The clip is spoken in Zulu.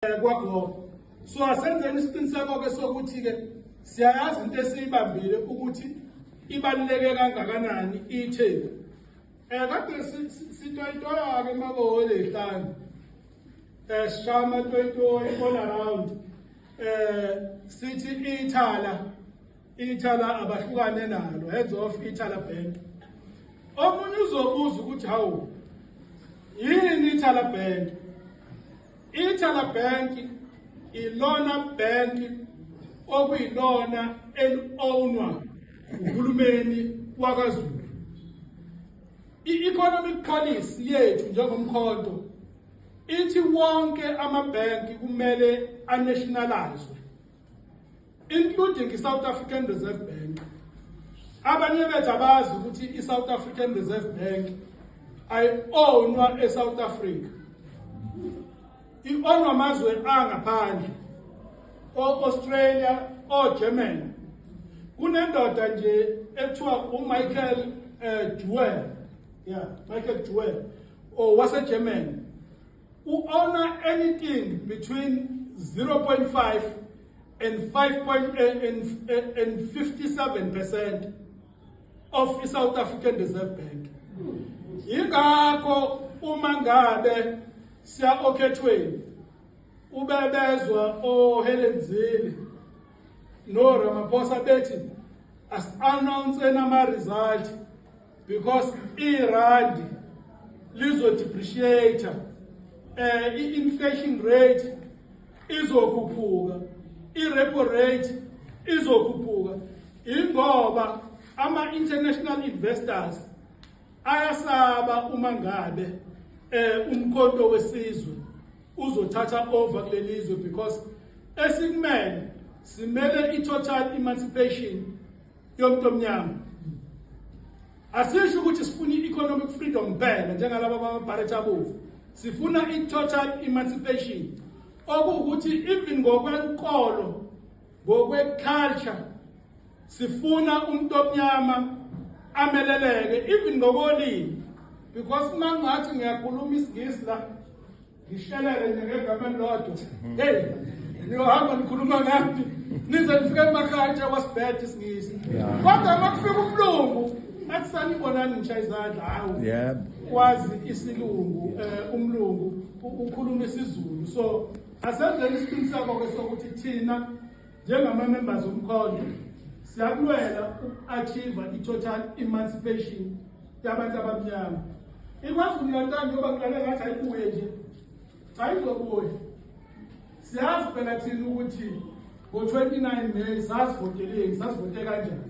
eh, kwagogo so asenzeni isiqiniseko-ke sokuthi-ke siyayazi into esiyibambile ukuthi ibaluleke kangakanani itheku um eh, kade sitoyitoya-ke makohole hlanu um eh, sishaya amatoyitoyi all around um sithi ithala ithala abahlukane nalo heads off ithala bank omunye uzobuza ukuthi hawu yini ithala bank Ithala Bank ilona bank okuyilona eli-ownwa uhulumeni wakwaZulu. I-economic policy yethu njengomkhonto ithi wonke amabhenki kumele anationalizwe including iSouth African Reserve Bank abanye bethu abazi ukuthi iSouth African Reserve Bank ayi-ownwa eSouth Africa i-ownwa amazwe angaphandle o-Australia o-Germany kunendoda nje ekuthiwa uMichael eh, Duell yeah Michael Duell owaseGermany oh, U-owner anything between 0.5 and 5.57 percent of i-south african reserve bank yingakho uma ngabe siya okhethweni ubebezwa ohelen zile no ramaphosa bethi asi-announce enama-result because irandi lizodepreciate um eh, i-inflation rate izokhuphuka i-repo rate izokhuphuka ingoba ama-international investors ayasaba uma ngabe um umkhonto wesizwe uzothatha over kuleli zwe because esikumele simele i-total emancipation yomuntu omnyama asisho ukuthi sifuna i-economic freedom kuphela njengalaba bamabharethi abovu sifuna i-total emancipation okuwukuthi even ngokwenkolo ngokweculture sifuna umuntu omnyama ameleleke even ngokolimi because uma ngathi ngiyakhuluma isingisi la Ngishelele nje ngegama lodwa. Hey, niyohamba nikhuluma ngaphi? Nize nifike emakhaya nje wasibhede isingisi. Kodwa makufika umlungu athi sanibonani ngisha izandla hawu. Yebo. Wazi isilungu eh, umlungu u- ukhuluma isiZulu. So asenzeni isiqiniseko ke sokuthi thina Njengama-members omkhondo siyakulwela uku-achieve i-total emancipation yabantu abamnyama ikwazulu natal njengoba kulale ngathi ayibuye nje cha izobuye siyazi phela thina ukuthi ngo-29 may sasivoteleni sasivote kanjani